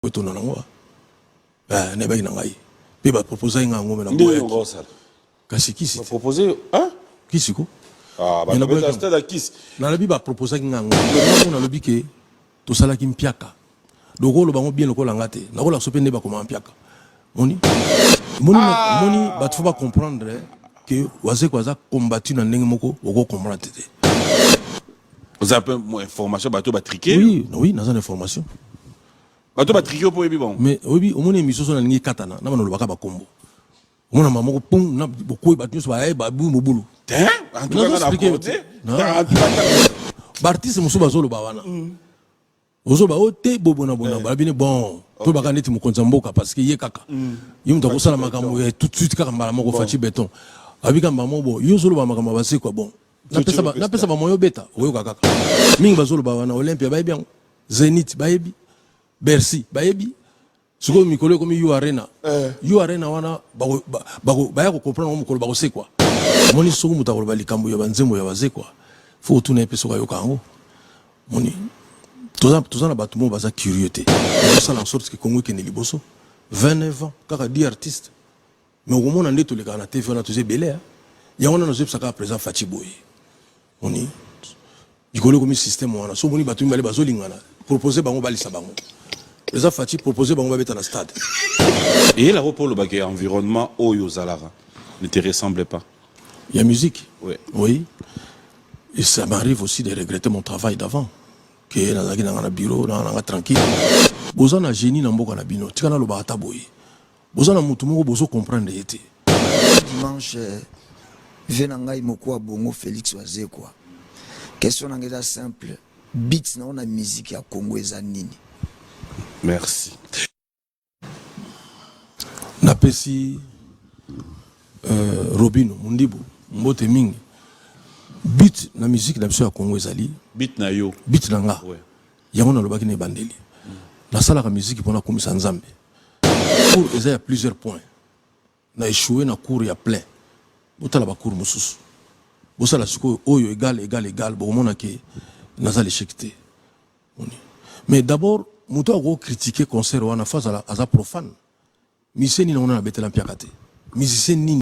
Botonda na ngo eh, na ebaki na ngai mpe baproposaki ngai yango me naboyaki kasi kisi kisi ko ah, nalobi baproposaki ngai yango nalobi ke tosalaki mpiaka donc oloba yango bien lokola nga te nakolakso mpe nde bakomaka mpiaka moni moni ah! moni bato fo ba comprendre eh, que wazekwa aza combattu na ndenge moko oko comprendre te oza mpe information bato batrike oui, oui naza na information bato batrike mpo oyebi bango mais oyebi omoni émission so nalingi ekatana na banolobaka bakombo omona mama moko pum na bokoyi bato nyonso baye babu mobulu baartiste mosusu bazoloba wana mm. bozoba oyo te bobona bona eh. bala bino bon to baka neti mokonzi ya mboka parce que ye kaka mm. ye moto akosala makambo ya tout de suite kaka mbala moko faci beton abika mbala moko bo yo ozoloba makambo ya basekwa bon napesa bamoya obeta oyoka kaka mingi bazoloba wana olympia bayebi yango zenit bayebi bercy bayebi sikoyo mikolo ekomi u arena eh. u arena wana baya kokomprendre yango mokolo bakosekwa omoni soki moto akoloba likambo ya banzembo ya bazekwa fo otuna ye mpe soki ayoka yango moni toza na bato moo baza curieux te osala en sorte ke kongo ekende liboso 29 ans kaka di artiste Mais okomona nde tolekaka na TV wana toza ebele hein. Yango wana nazoyebisa kaka president Fatshi boye. Oni likolo ekomi système wana so omoni bato mibale bazolingana propose bango balisa bango president Fatshi propose bango babeta na stade. Eyela ko polo bake environnement oyo ozalaka ne te ressemble pas. Ya musique? Oui. Oui. Et ça m'arrive aussi de regretter mon travail d'avant. Que nazalaki na nga na bureau na nga tranquille. Boza na génie na mboka na bino. Tika nalobaka ata boye. Boza na mutu moko bozo comprendre ye te. Dimanche euh, vie na ngai mokuwa bongo Felix Wazekwa. Question na ngai eza simple. Beats na ona musique ya Congo eza nini? Merci. Napesi euh, Robino Mundibu mbote mingi. Beat na musique na biso ya Congo ezali beat na yo. Beat na nga. Ouais. Yango nalobaki na ebandeli. Mm. Nasalaka musique pona kumisa Nzambe. cours eza ya plusieurs points na échoué na cours ya plein botala bacours mosusu bosala sikoyo oyo egal egal egal bokomona ke naza l'échec te mais d'abord moto akoki critique concert wana fa azala aza profane miseni na wana nabetela mpiaka te musicien nini